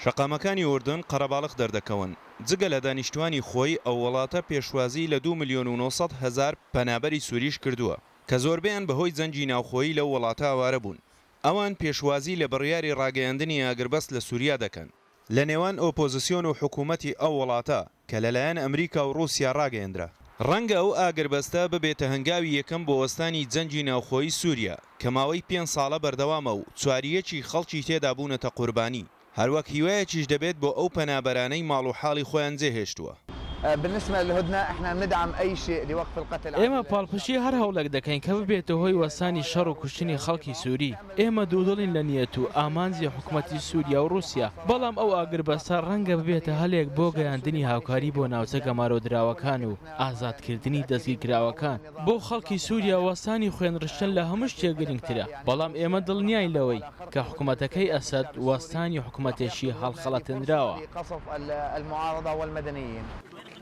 شەقامەکانی ئوردن قەرەباڵخ دەردەکەون. جگە لە دانیشتوانی خۆی، ئەو وڵاتە پێشوازیی لە دوو ملیۆن و نۆ سەد هەزار پەنابەری سوورییش کردووە، کە زۆربەیان بەهۆی جەنگی ناوخۆیی لەو وڵاتە ئاوارە بوون. ئەوان پێشوازیی لە بڕیاری ڕاگەیاندنی ئاگربەست لە سووریا دەکەن. لە نێوان ئۆپۆزسیۆن و حکوومەتی ئەو وڵاتە، کە لەلایەن ئەمریکا و ڕووسیا ڕاگەیەندرا. ڕەنگە ئەو ئاگربەستە ببێتە هەنگاوی یەکەم بۆ وەستانی جەنگی ناوخۆیی سووریا، کە ماوەی پێنج ساڵە بەردەوامە و چواریەکی خەڵکی تێدا بوونەتە قوربانی، هەروەک هیوایەکیش دەبێت بۆ ئەو پەنابەرانەی ماڵ و حاڵی خۆیان جێهێشتووە. ئێمە پاڵپشتی هەر هەوڵێک دەکەین کە ببێتە هۆی وەستانی شەڕ و کوشتنی خەڵکی سووری. ئێمە دوودڵین لە نیەت و ئامانجی حکومەتی سووریا و ڕووسیا، بەڵام ئەو ئاگربەستە ڕەنگە ببێتە هەلێک بۆ گەیاندنی هاوکاری بۆ ناوچە گەمارۆدراوەکان و ئازادکردنی دەستگیرکراوەکان. بۆ خەڵکی سووریا وەستانی خوێنڕشتن لە هەموو شتێک گرنگترە، بەڵام ئێمە دڵنیاین لەوەی کە حکومەتەکەی ئەسەد وەستانی حکومەتێکی هەڵخەڵەتێنراوە.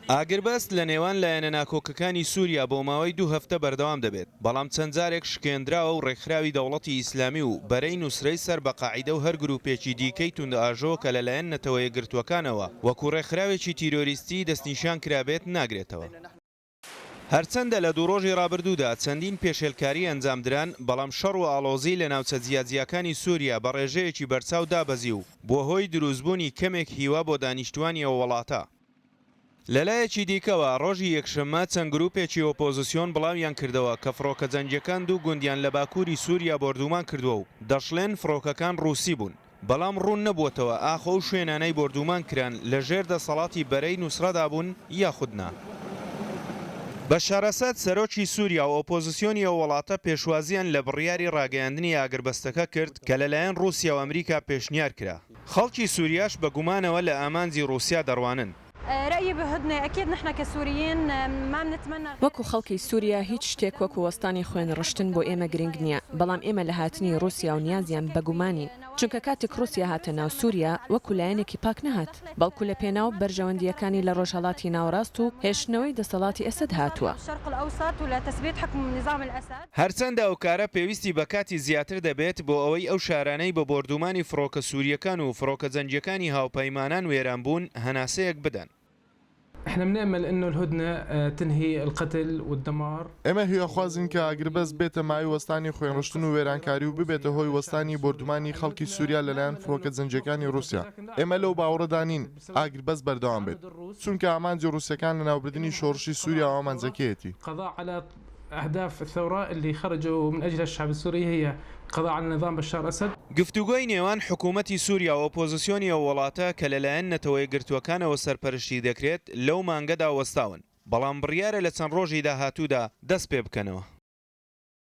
ئاگربەست لە نێوان لایەنە ناکۆکەکانی سووریا بۆ ماوەی دوو هەفتە بەردەوام دەبێت، بەڵام چەند جارێک شکێندراوە و ڕێکخراوی دەوڵەتی ئیسلامی و بەرەی نوسرەی سەر بە قاعیدە و هەر گرووپێکی دیکەی توندئاژۆ کە لەلایەن نەتەوە یەکگرتووەکانەوە وەکوو ڕێکخراوێکی تیرۆریستی دەستنیشان کرابێت، ناگرێتەوە. هەرچەندە لە دوو ڕۆژی ڕابردوودا چەندین پێشێلکاری ئەنجام دران، بەڵام شەڕ و ئاڵۆزی لە ناوچە جیاجیاکانی سووریا بە ڕێژەیەکی بەرچاو دابەزی و بووە هۆی درووستبوونی کەمێک هیوا بۆ دانیشتووانی ئەو وڵاتە. لەلایەکی دیکەوە، ڕۆژی یەکشەممە چەند گرووپێکی ئۆپۆزسیۆن بڵاویان کردەوە کە فڕۆکە جەنگییەکان دوو گوندیان لە باکووری سووریا بۆردوومان کردووە و دەشڵێن فڕۆکەکان ڕووسی بوون، بەڵام ڕوون نەبووەتەوە ئاخۆ ئەو شوێنانەی بۆردوومان کران لە ژێر دەسەڵاتی بەرەی نوسڕەدا بوون یاخود نا. بەشار ئەسەد، سەرۆکی سووریا و ئۆپۆزسیۆنی ئەو وڵاتە پێشوازییان لە بڕیاری ڕاگەیاندنی ئاگربەستەکە کرد کە لەلایەن ڕووسیا و ئەمریکا پێشنیار کرا. خەڵکی سوریاش بە گومانەوە لە ئامانجی ڕوسیا دەڕوانن. رای بهدنه اکید نحن کسوریین مانتمنی غیر وەکو خەڵکی سوریا هیچ شتێک وەکو وەستانی خوێن ڕشتن بۆ ئێمە گرنگ نیە بەڵام ئێمە لە هاتنی ڕوسیا و نیازیان بە گومانین چونکە کاتێک ڕوسیا هاتە ناو سوریا وەکو لایەنێکی پاک نەهات بەڵکو لە پێناو بەرژەوەندیەکانی لە ڕۆژهەڵاتی ناوەڕاست و هێشتنەوەی دەسەڵاتی ئەسەد هاتوە. هەرچەندە ئەو کارە پێویستی بە کاتی زیاتر دەبێت بۆ ئەوەی ئەو شارانەی بە بۆردوومانی فڕۆکە سوورییەکان و فڕۆکە جەنگییەکانی هاوپەیمانان وێران بوون هەناسەیەک بدەن. ئێمە هیواخوازین کە ئاگربەست بێتە مایەی وەستانی خوێنڕشتن و وێرانکاری و ببێتە هۆی وەستانی بۆردوومانی خەڵکی سووریا لەلایەن فڕۆکە جەنگییەکانی ڕووسیا. ئێمە لەو باوەڕەدا نین ئاگربەست بەردەوام بێت، چونکە ئامانجی ڕووسەکان لەناوبردنی شۆڕشی سووریا و ئامانجەکەیەتی. اهداف الثورە اللە خرجو من اجلها الشعب السوری هی قضاء علی نظام بشار اسد. گفتوگۆی نێوان حکوومەتی سووریا و ئۆپۆزسیۆنی ئەو وڵاتە کە لەلایەن نەتەوەیەکگرتووەکانەوە سەرپەرشتی دەکرێت لەو مانگەدا وەستاون، بەڵام بڕیارە لە چەند ڕۆژی داهاتوودا دەستپێبکەنەوە.